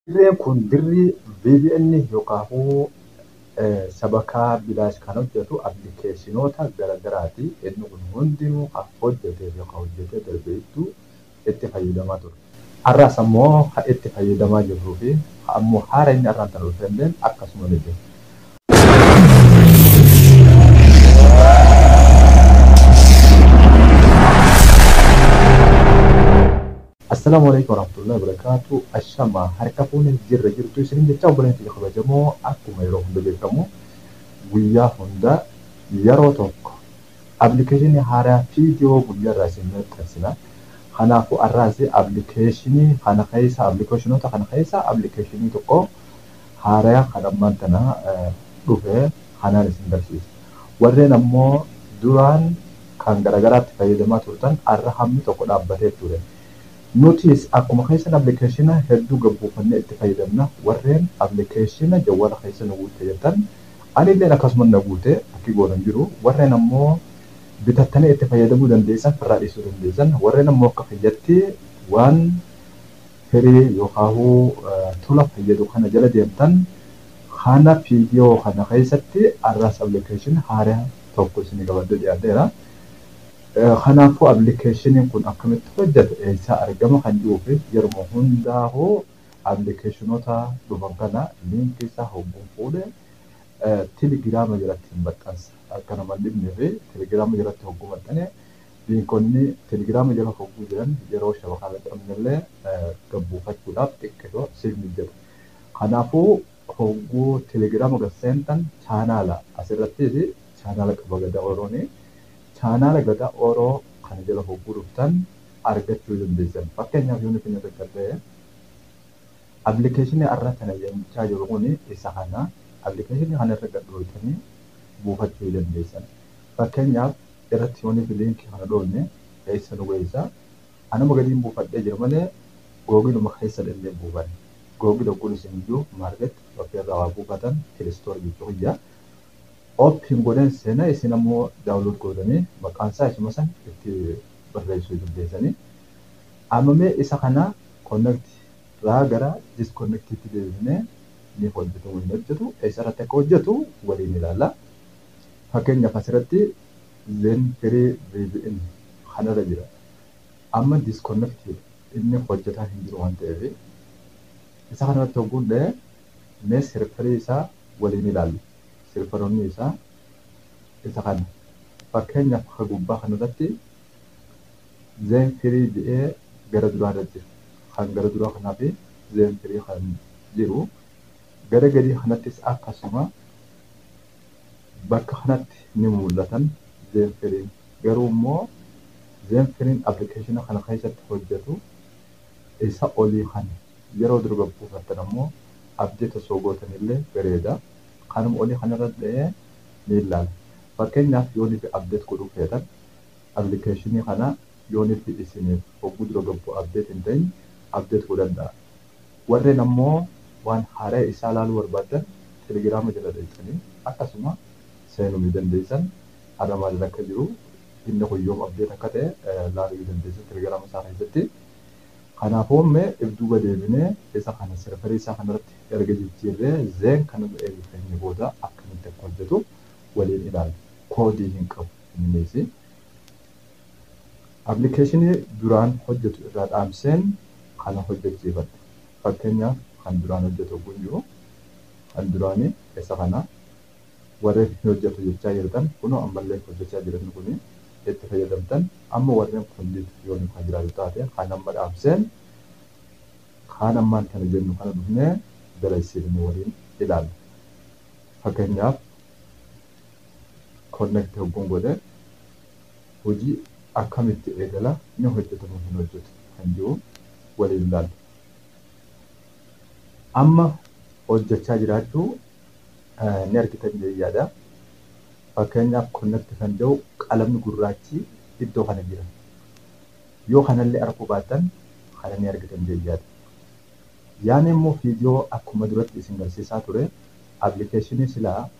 Dirreen kun dirri VPN yookaahuu sabakaa bilaash kan hojjatu applikeeshinoota gara garaati. Inni kun hundinuu ka hojjatee fi ka hojjatee darbe hedduu itti fayyadamaa turre. Arraas ammoo ka itti fayyadamaa jirruu fi ka ammoo haarayni arraan tana dhufe illeen akkasuma ni jira. Assalaamu Aleykum Warahmatullahi Wabarakatuh Ashama harka fuune jirra jirtu isinin jecha obboleen tiyya kabajamoo akkuma yeroo hunda beekamu guyyaa hunda yeroo tokko application haaraa video guyyaa irraa isin maxxansina kanaafu arraas application kana keessa applicationota kana keessa application tokko haaraa kan ammaan tana dhufe kanaan isin barsiisa warreen ammoo duraan kan garagaraatti fayyadamaa turtan arra hammi tokko dhaabbatee ture. Nutiis akkuma keessan applikeeshina hedduu gad buufannee itti fayyadamna. Warreen applikeeshina jawwaala keessa nu guutte jettan anilleen akkasuma na guute akki goonu hin jiru. Warreen ammoo bitattanii itti fayyadamuu dandeessan firraa dhiisuu dandeessan. Warreen ammoo akka kiyyatti waan firii yookaahuu tola fayyadu kana jala deemtan kana fiidiyoo kana keessatti arraas applikeeshina haara tokko isinii qabadhee dhiyaadheera. Kanaafuu appilikeeshiniin kun akkamitti hojjeta eessaa argama kan jedhuu fi yeruma hundaa hoo appilikeeshinoota dhufan kana liinkii isaa hogguun fuudhe telegiraama jalatti hin maxxansa akka nama hin dhibnee fi telegiraama jalatti hogguu maxxane liinkonni telegiraama jala hogguu jiran yeroo shabakaa maxxanne illee gabbuufachuudhaaf xiqqisho siif mijjata. Kanaafuu Hogguu telegrama gad seentan chaanaala asirrattis chaanaala qaba Gadaa Oroon. Chaanaala Gadaa Oro kana jala hogguu dhuftan argachuu dandeessan. Fakkeenyaaf yoon isin irra callee application arra tana jechaa jiru kun isa kana. Application kana irra gad dhooytanii buufachuu dandeessan. Fakkeenyaaf irratti yoon link kana dhooyne eessa nu geessa? Anuma gadiin buufadhee jira malee Googiluma keessa dhellee hin buufanne. Googil hogguun isin iyyu market Shopee irraa waa buufatan Play Store jechuu kiyya. Open godheen seena isin ammoo download gootanii maqaan isaa isuma san itti barreessuu dandeessanii. Amma mee isa kana connect irraa gara disconnect itti deebifnee ni hojjetamoo hin hojjetu eessarratti akka hojjetu waliin ilaalla. Fakkeenyaaf asirratti Zen Free vpn kanarra jira. Amma disconnected inni hojjataa hin jiru waan ta'eef isa kanarratti hogguun dha'e mee serverii isaa waliin ilaallu. Serveroonni isaa isa kana. Fakkeenyaaf akka gubbaa kanarratti Zen Free jedhee gara duraa irra jira. Kan gara duraa kanaa fi Zen Free kan jiru. Gara gadii kanattis akkasuma Bakka kanatti ni mul'atan Zenfiriin. Garuu immoo Zenfiriin application kana keessatti hojjatu isa olii kana. Yeroo durba buufattan ammoo update osoo gootan illee bareeda. Kanuma olii kana irra dha'ee ni ilaala. Fakkeenyaaf yoo nuti update godhuu feetan application kana yoo nuti isiniif hogguu dura gabbu update hin ta'in update godhadhaa. Warren ammo waan haaraya isaa laaluu barbaaddan telegirama jala dhayxanii akkasuma seenu ni dandeeysan har'a maalirra akka jiru inni kun yoom update akka ta'e laaluu ni dandeeysan telegirama isaa keessatti kanaafu me if duuba deebine isa kana server isaa kanarratti erga jijjiirre then kan irra eega keenya booda akkamitti akka hojjatu waliin ilaalla koodii hin qabu inniisi Appilikeeshinii duraan hojjetu irraa dhaamseen kana hojjechiifadhe. Fakkeenyaaf kan duraan hojjetu yogguu hin jiru kan duraanii keessa kana warreen hin hojjetu jechaa jirtan kunoo ammallee hojjechaa jira inni kuni itti fayyadamtan amma warreen complete yoonu kan jiraatu taate kan amma dhaamseen kaan ammaan tana jennu kana dhufnee dalagsiifne waliin ilaalla. Fakkeenyaaf connect hogguun godhe hojii akkamitti eegala ni hojjeta moo hin hojjetu kan jiru waliin ilaalla. Amma hojjechaa jiraachuu ni argitan jedhee yaada. Fakkeenyaaf connect kan jedhu qalamni gurraachi iddoo kana jira. Yoo kanallee arguu baattan kana ni argitan jedhee yaada. Yaani immoo viidiyoo akkuma duratti isin garsiisaa ture appilikeeshinii silaa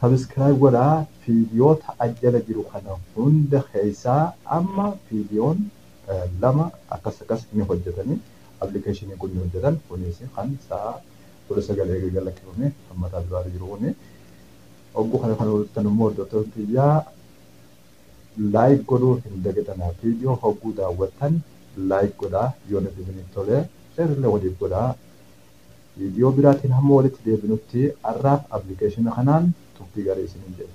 Subscribe godhaa fiidiyoota as jala jiru kana hunda keessaa amma fiidiyoon lama akkas akkas ni hojjetanii application kun ni hojjetan kunis kan sa'a kudha sagal eegee gad lakkifame kan mataa duraarra jiru kuni ogguu kana kan hojjetan immoo hordoftoota kiyyaa like godhuu hin dagatinaa fiidiyoo hogguu daawwattan like godhaa yoo nuti isiniif tolee share illee waliif godhaa Viidiyoo biraatiin hamma walitti deebinutti har'aaf appilikeeshina kanaan turtii garii isiniin jenna.